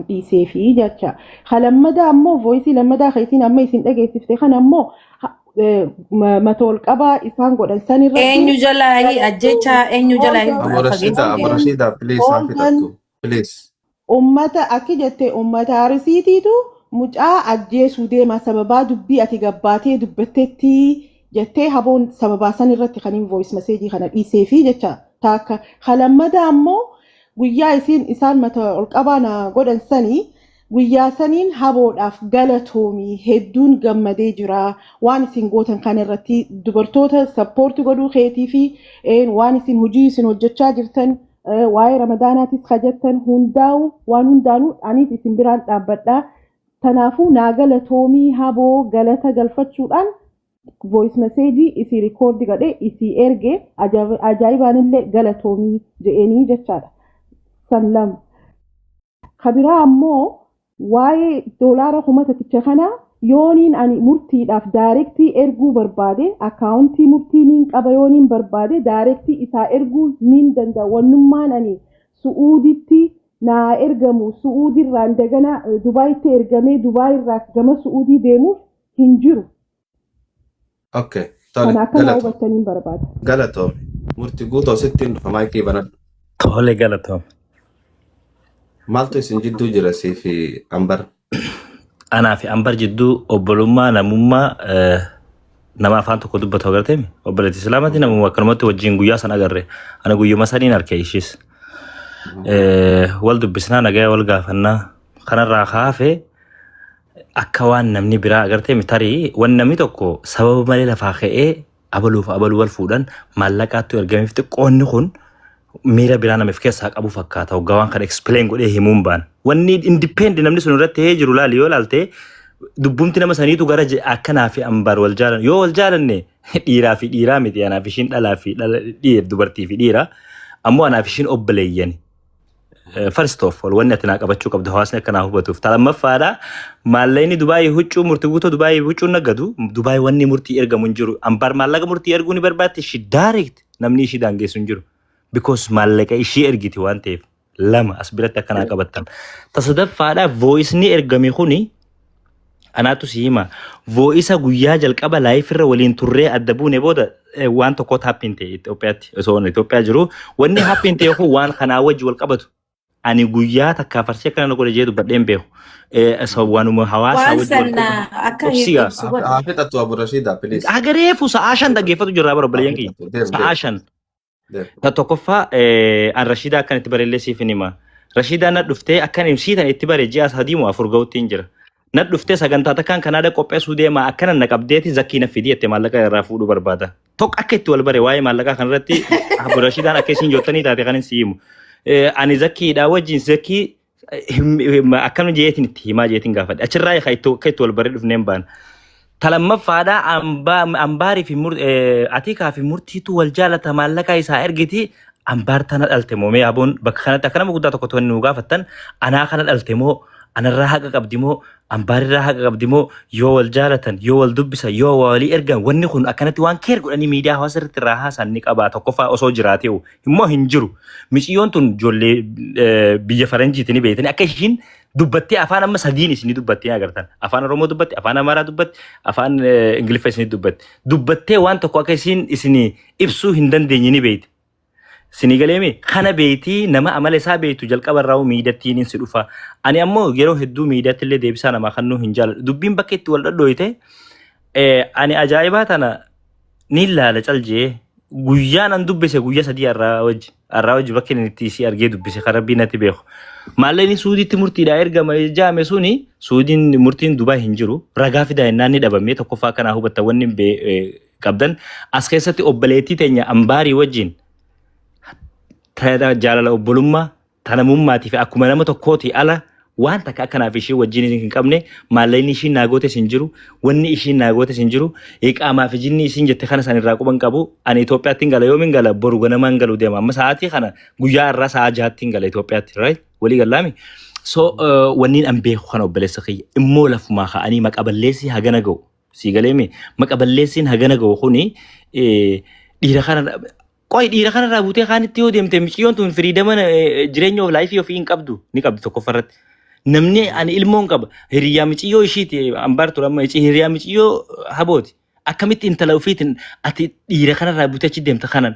dhiisee fi jecha ka lammadaa ammoo voisii lammadaa ka isiin amma isin dhageessifte kan ammoo ha- eh, ma- mata ol qabaa isaan godhan san irratti Eenyu jalaa hin galatoomi ajjecha eenyu jalaa hin Abu Rashida, fageessu Abu hooltan Rashida, please haa hooltan fixattu. Please. ummata akki jette ummata arisiitiitu mucaa ajjeesuu deema sababaa dubbii ati gabbaatee dubbattetti jettee haboon sababaa san irratti kan hin voice message kana dhiisee fi jecha taakka ka lammadaa ammoo Guyyaa isiin isaan mata ol qabaa na godhan sani guyyaa saniin haboodhaaf galatoomi hedduun gammadee jira waan isin gootan kana irratti dubartoota sappoorti godhuu keetii fi een, waan isin hojii isin hojjechaa jirtan eh, waa'ee ramadaanaatis ka jettan hundaa'u waan hundaanuu aniis isin biraan dhaabbadha. Kanaafuu naa galatoomii haboo galata galfachuudhaan voice message isii record godhe isii erge ajaib- ajaa'ibaanillee galatoomii je'eenii jechaadha san lama ka biraa ammoo waa'ee doolaara kuma tokkicha kana yooniin ani murtiidhaaf daayirektii erguu barbaade akaawuntii murtii niin qaba yooniin barbaade daayirektii isaa erguu niin danda'a wannummaan ani su'uuditti naa ergamu su'uudirraan dagana eh, dubaayitti ergamee dubaayirraa gama su'uudii deemuuf hin jiru. Ok, tole, Kana akka naa galatoom. hubattaniin barbaada. Galatoom. Murti guutoo sittiin dhufa maayikii banadhu. Tole galatoom. Maaltu isin jidduu jira sii fi ambar? Anaa fi ambar jidduu obbolummaa namummaa eh, nama afaan tokko dubbatu agartee mi? Obboleetti Islaamatti namuma akkanumatti wajjin guyyaa san agarre. Ana guyyuma saniin arke ishiis. Eh, Wal dubbisnaa nagaya wal gaafannaa. Kanarraa kaafee akka waan namni biraa agartee mi tarii wan namni tokko sababa malee lafaa ka'ee abaluuf abaluu wal fuudhan maallaqaattu ergameef xiqqoonni kun miira biraa namiif keessaa qabu fakkaata hoggaa waan kana explain godhee himuun baan wanni independent namni sun irratti ta'ee jiru laali yoo laalte dubbumti nama saniitu gara je- akkanaa fi ambaar wal jaalan yoo wal jaalanne dhiiraa fi dhiiraa miti anaaf ishiin dhalaa fi dhala dhiir dubartii fi dhiira ammoo anaaf ishiin obboleeyyani First of all, wanni ati naa qabachuu qabdu hawaasni akka naa hubatuuf. Ta lammaffaadha, maallaqni Dubaayii huccuu murti guutoo Dubaayii huccuu nagadu, Dubaayii wanni murtii ergamu hin jiru. Ambaar maallaqa murtii erguu ni barbaaddi, shi direct namni ishii daangeessu hin jiru. Because maallaqa ishii ergiti waan ta'eef. Lama as biratti akka naa qabattan. Ta sadaffaadha, voice ni ergame kuni anaatu si hima voice guyyaa jalqaba live irra waliin turree adda buune booda eh, waan tokkotu happin ta'e Itoophiyaatti osoo inni Itoophiyaa jiru wanni happin ta'e kun waan kanaa wajji wal qabatu ani guyyaa takkaa farsee kana na godhe jee dubbadheen beeku Eh, so waanuma hawaasaa Waan wajji wal qabatu sanna akka hin Obsiga. ibsu Haa godhe. haa fixattu Abu Rashiida please. Agareefu sa'aa shan dhaggeeffatu jirraa bara obboleeyyan kiyya. Deem, deem. Sa'aa shan. Ta tokkoffaa eh, an Rashiidaa akkan itti barellee siif hin hima. Rashiidaa na dhuftee akkan imsii tan itti bare ji'a sadii moo afur ga'utti hin jira. Na dhuftee sagantaa takkaan kanaada qopheessuu deemaa akkana na qabdeeti zakkii na fidii jette maallaqa irraa fuudhuu barbaada. Tokko akka itti wal bare waa'ee maallaqaa kanarratti Abu Rashiidaan akka isin jottanii taate kan hin si himu. Eh, Ani zakkiidhaa wajjin zakkii Him- akkana jeetiin itti himaa jeetiin gaafadhe achirraa eegaa itti akka itti wal baree dhufneen baana. Ta lammaffaadhaa ambaa ambaarii fi mur eh, atiikaa fi murtiitu wal jaalata maallaqaa isaa ergiti ambaar tana dhalte moo mee aboon bakka kanatti akka nama guddaa tokko to'anni nu gaafattan anaa kana dhalte moo anarraa haqa qabdi moo Ambaarirraa haqa qabdi moo yoo wal jaalatan yoo wal dubbisan yoo waa walii ergan wanni kun akkanatti waan keer godhanii miidiyaa hawaasa irratti irraa haasaan ni qabaa tokkoffaa osoo jiraatee immoo hin jiru. Miciyyoon tun ijoollee eh, biyya faranjiiti ni beeytani akka ishiin dubbattee afaan amma sadiin isinii dubbattee agartan afaan oromoo dubbatti afaan amaaraa dubbatti afaan eh, ingiliffa isinii dubbatti dubbattee waan tokko akka isiin isinii ibsuu hin dandeenye ni beeyte. Sinii galee mee kana beeyti nama amala isaa beeytu jalqaba irraa miidattiin insi dhufa. Ani ammoo yeroo hedduu miidatti illee deebisaa namaa kannuu hin jaaladhu. Dubbiin bakka itti wal dhadhooyte ani ajaa'ibaa tana ni laala caljee guyyaa nan dubbise guyyaa sadii arraa wajji arraa wajji bakka inni itti isii argee dubbise kan rabbii natti beeku. Maallee inni suudiitti murtiidhaa ergama jaame suni suudiin murtiin dubaa hin jiru ragaa fidaa innaan ni dhabamee tokkoffaa kanaa hubatta wanni qabdan as keessatti obboleettii teenya ambaarii wajjin tana jaalala obbolummaa tana mummaatii fi akkuma nama tokkootii ala waan takka akkanaaf ishii wajjin hin qabne maallaqni ishiin naa gootes hin jiru wanni ishiin naa gootes hin jiru iqaamaa fi jinni isiin jette kana san irraa quban qabu ani Itoophiyaatti hin gala yoomin gala boru ganama hin galu deema amma sa'aatii kana guyyaa irraa sa'aa jahaatti hin gala Itoophiyaatti right walii gallaami so wanniin an beeku kana obboleessa kiyya immoo lafumaa ka'anii maqa balleessii hagana ga'u Sii galee mi? Maqa balleessiin hagana gahu kuni dhiira kana qoy dhiira kana irraa buutee kaanitti yoo deemte miciyyoon tun firiidama jireenya of laayifii ofii hin qabdu ni qabdi tokkoffaa irratti. Namni ani ilmoon qaba hiriyaa miciyyoo ishiiti ambaar ture amma ici hiriyaa miciyyoo habooti. Akkamitti intala ofiitiin ati dhiira kana irraa buutee achi deemta kanan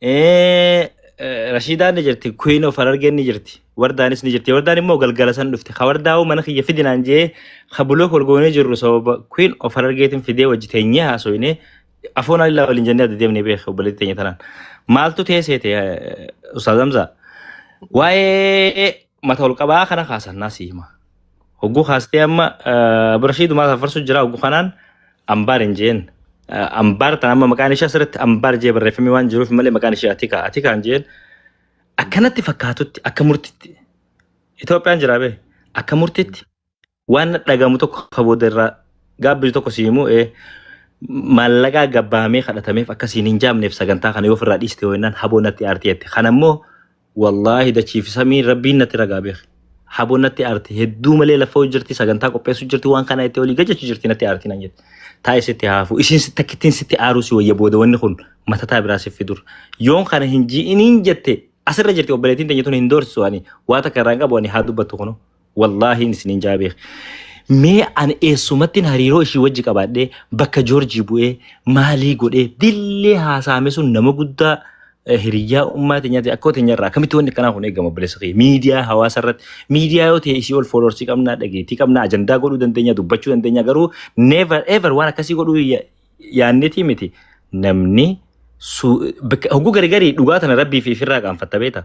Eh, eh, Rashiidaan ni jirti, Queen of Harargeen ni jirti, Wardaanis ni jirti. Wardaan immoo galgala san dhufte. Ka Wardaa'uu mana kiyya fidinaan jee ka bulook wal goonee jirru sababa Queen of Harargeetiin fidee wajji teenyee haasofnee afoon alilaa waliin jennee adda deemnee beeka obboleetti teenya tanaan. Maaltu teessee ta'e Ustaaz Hamzaa? Waa'ee mata ol qabaa kana kaasan naa si hima. Hogguu kaastee amma birashii dumaa safarsu jira hogguu kanaan ambaar hin jeen. Ambaar tan amma maqaan ishee asirratti ambaar jee barreeffamee waan jiruuf malee maqaan ishee atikaa atikaa hin jeen. Akkanatti fakkaatutti akka murtitti Itoophiyaan jira bee akka murtitti waan dhagamu tokko ka booda irraa gaabbisu tokko si himu ee maallaqaa gabbaamee kadhatameef akkasiin hin jaamneef sagantaa kana yoo ofirraa dhiiste ho'innaan haboo natti aartii jette kana immoo wallaahi dachiif samii rabbiin natti ragaa beeki haboo natti aartii hedduu malee lafa hojii jirti sagantaa qopheessu jirti waan kana itti olii gajachu jirti natti aartii nan jette taa'e sitti haafu isiin sitti akkittiin sitti aaruu si wayya booda wanni kun matataa biraa siif fidur yoon kana hin ji'iniin jette asirra jirti obboleettiin teenya tun hin doorsisu ani waa takka irraa hin qabu ani haa dubbattu kunoo. wallaahiin isiniin jaa beek mee an eessumattiin hariiroo ishii wajji qabaadhee bakka joorjii bu'ee maalii godhee dillee haasaame sun nama guddaa eh, hiriyyaa ummaa teenyaati akkoo teenyarraa akkamitti wanni akkanaa kun eegama bilisa kee miidiyaa hawaasa irratti miidiyaa yoo ta'e isii ol fooloorsii qabnaa dhageettii qabnaa ajandaa godhuu dandeenya dubbachuu dandeenya garuu never ever waan akkasii godhuu ya- yaannetii miti namni su- bakka- hogguu gargarii dhugaa tana rabbii fi firraa qaanfatta beeta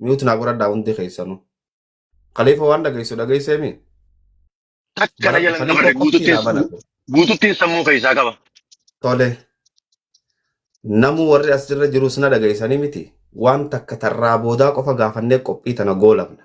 mute naa godhadhaa hundi keessanuu. Khalifa waan dhageessu dhageessee mii? Takka na Banadhu jalan Khalifa dabarre qofti naa guututtiin banadhu. guututtiin sammuu keessaa qaba. Tole namuu warri as jirra jirus na dhageessanii miti. Waan takka tarraa boodaa qofa gaafannee qophii tana goolabna.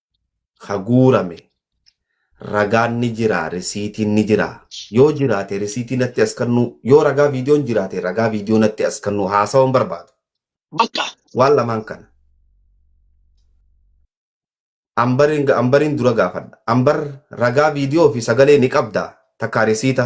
ka guurame ragaan ni jira risiitiin ni jira yoo jiraate risiitii natti as kennuu yoo ragaa viidiyoon jiraate ragaa viidiyoo natti as kennuu haasawan barbaadu Bakka. waan lamaan kana ambariin ambariin dura gaafadha ambar ragaa viidiyoo fi sagalee ni qabda takkaa risiita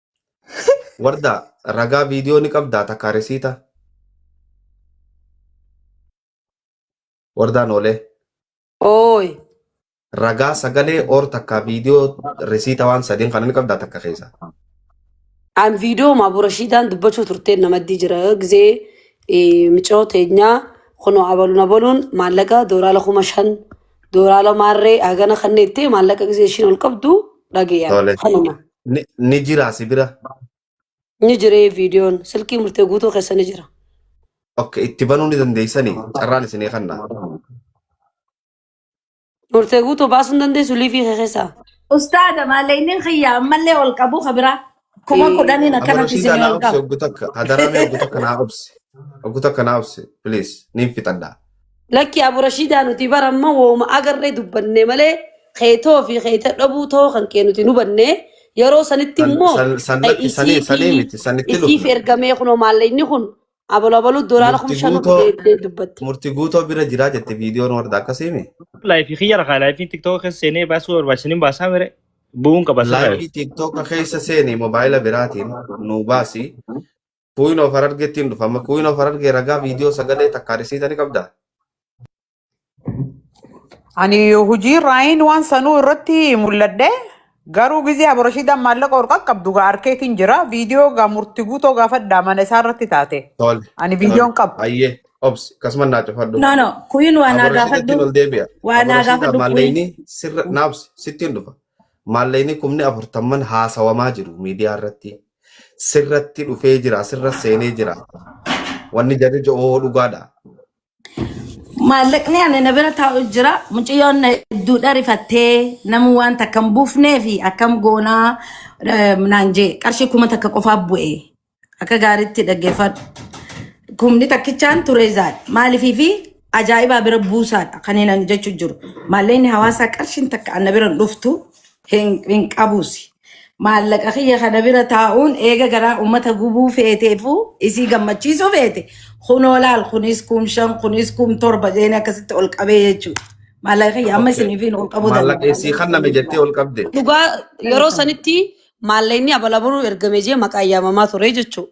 Wardaa ragaa viidiyoo ni qabdaa takkaa resiita. Wardaa noolee. Ooy. Ragaa sagalee or takkaa viidiyoo resiita waan sadiin kana ni qabdaa takka keessa. An viidiyoo maabura shiidaan dubbachuu turtee namaddii jira gizee miciroo teenyaa kunoo abaluun abaluun maallaqa dooraala kuma shan dooraala maarree hagana kanneettee maallaqa gizee ishiin ol qabdu dhageeyaan. Tole. Kanuma. Ni, ni jira si bira. Ni jiree viidiyoon silkii murtee guutuu keessa ni jira. Ok, itti banuu ni dandeessani. Carraan isinii kanna. Murtee guutuu baasuu hin dandeessu liivii kee keessaa. Ustaaza maaleyniin kiyya ammallee ol qabu kabira kuma Eh, kudhaniin Amma akkanatti Rashiidaa isinii naa ol obsi qabu. oggu takka. Hadaraa mee oggu takka naa obsi. Oggu takka naa obsi. Please. Niin fixadha. Lakki Abu Rashidaa nuti bara amma wooma agarree dubbanne malee keetoo fi keeta dhabuu ta'uu kan kee nuti hubanne yeroo sanitti San- immoo san- san eh, lakki sanii- isii sanii fi miti, sanitti isiif dhufna. ergamee kunoo maallayni kun abaloo abaluu doolaara Murti kuma shan guutoo- deeddee dubbatte. Murti guutoo bira jiraa jette viidiyoon warda akkasiimi. Laayifii kiyya rakaa laayifii tiktoka keessa seenee baasuu barbaachisaniin baasaa mire bu'uun qaba sirraa. Laayivii tiiktoka keessa seeni mobaayila biraatiin nuu baasi. Queen of Harargeetti hin dhufa. Amma Queen of Harargee ragaa viidiyoo sagalee takkaa risiita ni qabdaa? Ani hojii raayiin waan sanuu irratti mul'adhe garuu gizee aboroshiidhaan maallaqa ol qaqqabdu gaa arkeetiin jira viidiyoo gaa murti guutoo gaafadhaa mana isaa irratti taate Tole. ani viidiyoon Tole. qabu. Ayyee. Obsi. Akkasumas naa cufadhu. No, no. Kuyin waa naa Aboroshiidatti gaafadhu. ol deebi'a. Waa naa Aboroshiidhaan gaafadhu kuyin. maallayni sirra naabsi sittiin dhufa. Maallayni kumni afurtamman haasawamaa jiru miidiyaa irratti. sirratti dhufee jira sirra seenee jira wanni jarri jedhu dhugaadha. Maallaqni ani na bira taa'u jira. Mucayyoon na hedduu dharifattee nama waan takka hin buufnee fi akkam goonaa eh, naan jee qarshii kuma takka qofaa bu'e. Akka gaariitti dhaggeeffadhu. Kumni takkichaan ture zaal. Maaliifii fi ajaa'ibaa bira buusaadha kan inni jechuu jiru. Maallaqni hawaasaa qarshiin takka ana bira hin dhuftu hin hin qabuusi. maallaqa kiyya kana bira taa'uun eega garaa ummata gubuu feeteefuu isii gammachiisuu feete kunoo laal kunis kum shan kunis kum torba jeeni akkasitti ol qabee jechuudha. Maallaqa kiyya amma Okay. isiniifiin ol qabuu danda'a. Maallaqa isii kan name jettee ol qabde. Dhugaa yeroo sanitti maallaqni abalabaluu ergame jee maqaa yaamamaa ture jechuudha.